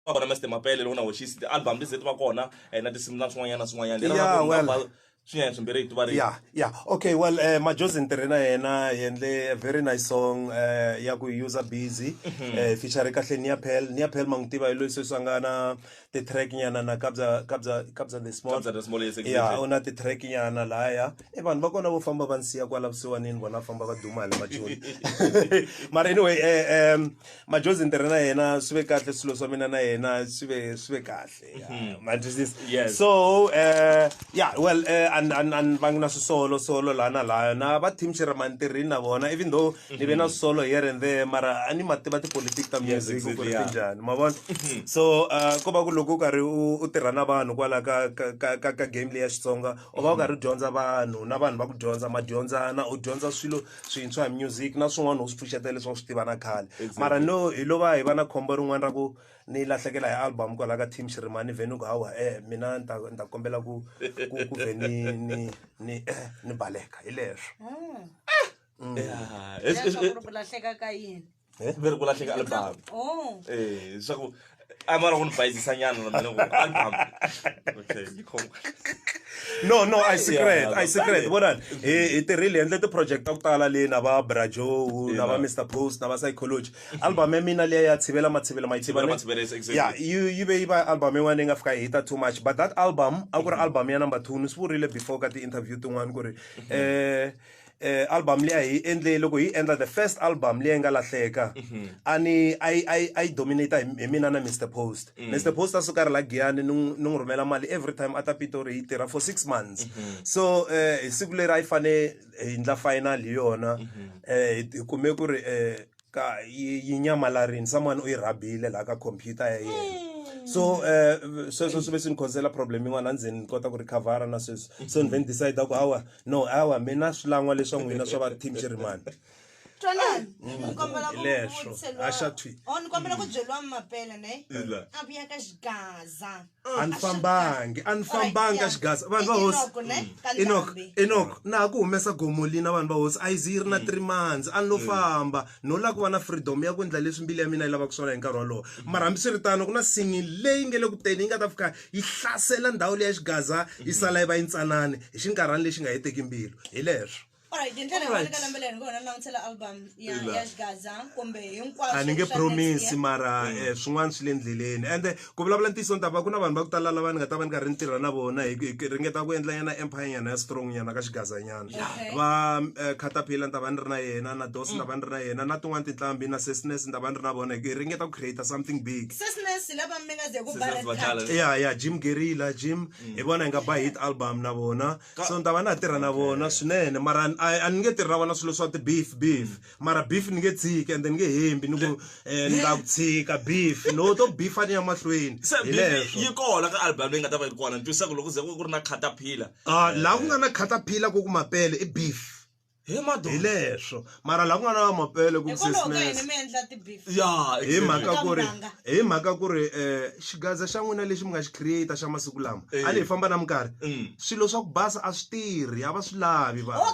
va kona Mr Mapele loko na hoxisi ti album leti ti va kona eh, na tinsimu na swin'wanyana swin'wanyana Lero Yeah, na ku well. number swinyanya swimbirhi hi ti varile yeah yeah okay well uh, majozi ni tirhe na yena hi endle a very nice song uh, ya ku user busy uh, feature kahle niapel niapel ma n'wi tiva hi loyi sweswi a nga na ti-track nyana na kabza kabza kabza the small Kabza the Small, yes, exactly. yeah u na ti-track nyana laya e vanhu va kona vo famba va ni siya kwala vusiwanini vona va famba va duma hi le majoni mara anyway eh, um, majozi ni tirhe na yena swi ve kahle swilo swa mina na yena swi ve swi ve kahle mhm. ma twisisa yes so uh yeah well uh, and and and va na swisolo solo la na laya na va team Sherman tirhi na vona even though mhm. ni ve na solo here and there mara a ni ma tiva tipolitiki ta music ku ri tinjani ma vona mhm. so uh ko va ku loko u karhi u tirha na vanhu kwala ka ka ka game leya Xitsonga u va u karhi u dyondza vanhu na vanhu va ku dyondza ma dyondzana u dyondza swilo swintshwa hi music na swin'wana u swi pfuxetela leswi va swi tiva na khale mara no hi lo va hi va na khombo rin'wana ra ku ni lahlekela hi album kwalaho ka team xirimani vhe ni ku hawa e mina ni ta ni ta kombela ku ku ku vhe ni ni ni eh, ni baleka hi leswo Ah. Eh, leswaku ri ku lahleka ka yini eh? ve ri ku lahleka album oh. eh, leswaku a va la ku ni bayizisa nyana na mina ku album okay yi khoma no no i secret i secret vonani hi hi tirhile endle ti-project ta ku tala leyi na va brajo na va mr post na va psychology album ya mina leyi ya tshivela matshivela mayiya yi ve yi va album yin'wana yi nga fika hita too much but that album a ku ri album ya number two ni swi vurile before ka ti-interview tin'wana ku ri um eh, album leyi a hi endle loko hi endla the first album leyi nga lahleka mhm. a ni a yi a yi a yi dominate hi mina na Mr Post mm. Mr Post a suka ri la Giyani ni ni n'wi rhumela mali every time a ta Pitori yi tirha for 6 months mhm. so eh, hi siku leri a yi fane hi ndla final hi yona mhm. eh, hi kume ku ri eh, ka yi yi nyamalarini someone u yi rhabile laha ka computer ya yena so um sweswo swi ve swi ni khosela problem yin'wana a ndzeni ni kota ku recover na sweswo so ni ve ni decide ku awa no awa mina swilan'wa leswa n'wina swa va team jeremani twanani ni kombela ku Hileswo. vutselwa- Haxa thwi. Oh, ni kombela ku byeliwa mapela ne Ila. a vuya ka xigaza a ni fambangi a ni fambangi ka xigaza vanhu va hosi inok inok na ha ku humesa gomolina vanhu va hosi a yi zi yi ri na three months a ni lo famba no lava ku va na freedom ya ku endla leswi mbili ya mina yi lavaka swona hi nkarhi wolowo mara hambiswiritano ku na singi leyi nge le ku teni yi nga ta fika yi hlasela ndhawu leyi ya xigaza yi sala yi va yi ntsanani hi xinkarhani lexi nga heteki mbilu hi leswo Alright, hi ndlela yin'wana eka lembe leri hi ngo hona langutisela album ya Ila. ya Xgaza kumbe hinkwaswo a ni nge swa promise next year. mara eh, swin'wana swi le ndleleni ende ku vulavula ntiyiso ni ta va ku na vanhu va ku tala lava ni nga ta va ni karhi ni tirha na vona hi hi- hi ringeta ku endla nyana empire nyana ya strong nyana ka xigazanyana Okay. va eh, caterpillar ni ta va ni ri na yena na dos ni ta va ni ri na yena na tin'wana tinhlambi na sesnes ni ta va ni ri na vona hi hi ringeta ku create something big Sesnes lava mi nga ze ku Sesnes Barrett va Cut. tala. ya ya jim gerila jim hi vona hi nga ba hit album na vona so ni ta va na ha tirha na vona swinene mara a ni nge tirhi na vona swilo swa ti-beef beef mara beef ni nge tshiki and then ni nge hembi ni ku eh, ni ta ku tshika beef no to beef a ni ya mahlweni yi kona ka album leyi nga ta va yi ri kona ni twisaka loko ze ku ri na catapillar ah, laha ku nga na catapillar ko ku mapele i beef hi madoda hi leswo mara laha ku nga na mapele ku ya hi mhaka ku ri hi mhaka ku ri um xigaza xa n'wina lexi mi nga xi create xa masiku lama a ni hi famba na minkarhi mm. swilo swa ku basa a swi tirhi a va swi lavi va oh,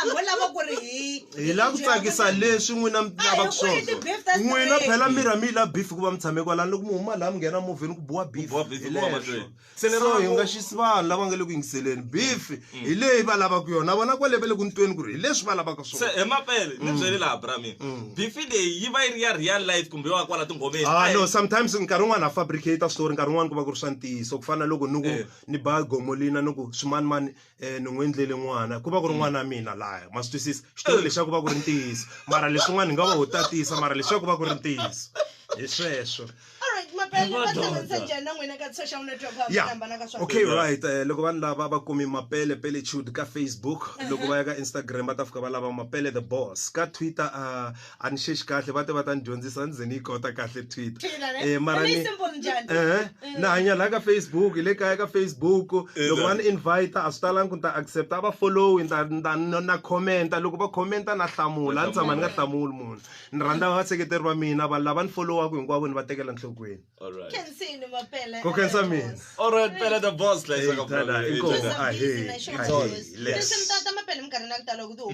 vo lava ku ri hi hi lava ku tsakisa leswi n'wina mi lava ku swona n'wina phela miri a mi yi lavi beef hikuva mi tshame kwalani loko mi huma laha mi nghena movheni ku biwa beef hi leswo so hi nga xisi vanhu lava nga le ku yingiseleni beef mm. hi leyi va lavaka yona vona kwale va le ku ntweni ku ri hi leswi va lavaka swona se hi mapele ni mm. byele laha brami mm. beef leyi yi va yi ri ya real life kumbe wa kwala tinghomeni ah no sometimes nkarhi wun'wana ha fabricate story nkarhi wun'wana ku va ku ri swa ntiyiso ku fana na loko ni ku eh. ni ba gomolina ni ku swimanimani eh ni n'wi endlele n'wana ku va ku ri n'wana wa mina laya ma swi twisisa xitori lexi a ku va ku ri ntiyiso mara leswin'wana ni nga va ho tatisa mara leswi a ku va ku ri ntiyiso hi sweswo ya okay right eh, loko vanhu lava va kumi mapele pele chud ka facebook loko va ya ka instagram va ta fika va lava mapele the boss ka twitter uh, a ni xexi kahle va te va ta ni dyondzisa ni ze ni yi kota kahle twitter eh mara ni eh na hanya la ka facebook le kaya ka facebook loko va ni invite a swi talanga ku ni ta accept a va follow ni ta ni ta na comment loko va comment na hlamula ni tshama ni nga hlamuli munhu ni rhandza va seketeri va mina vanhu lava ni followaka hinkwavo ni va tekela nhlokweni ko khensa mina all right pele the boss la isa ka brother inkomo a he le leswi mtata mapele minkarhi na ku tala ku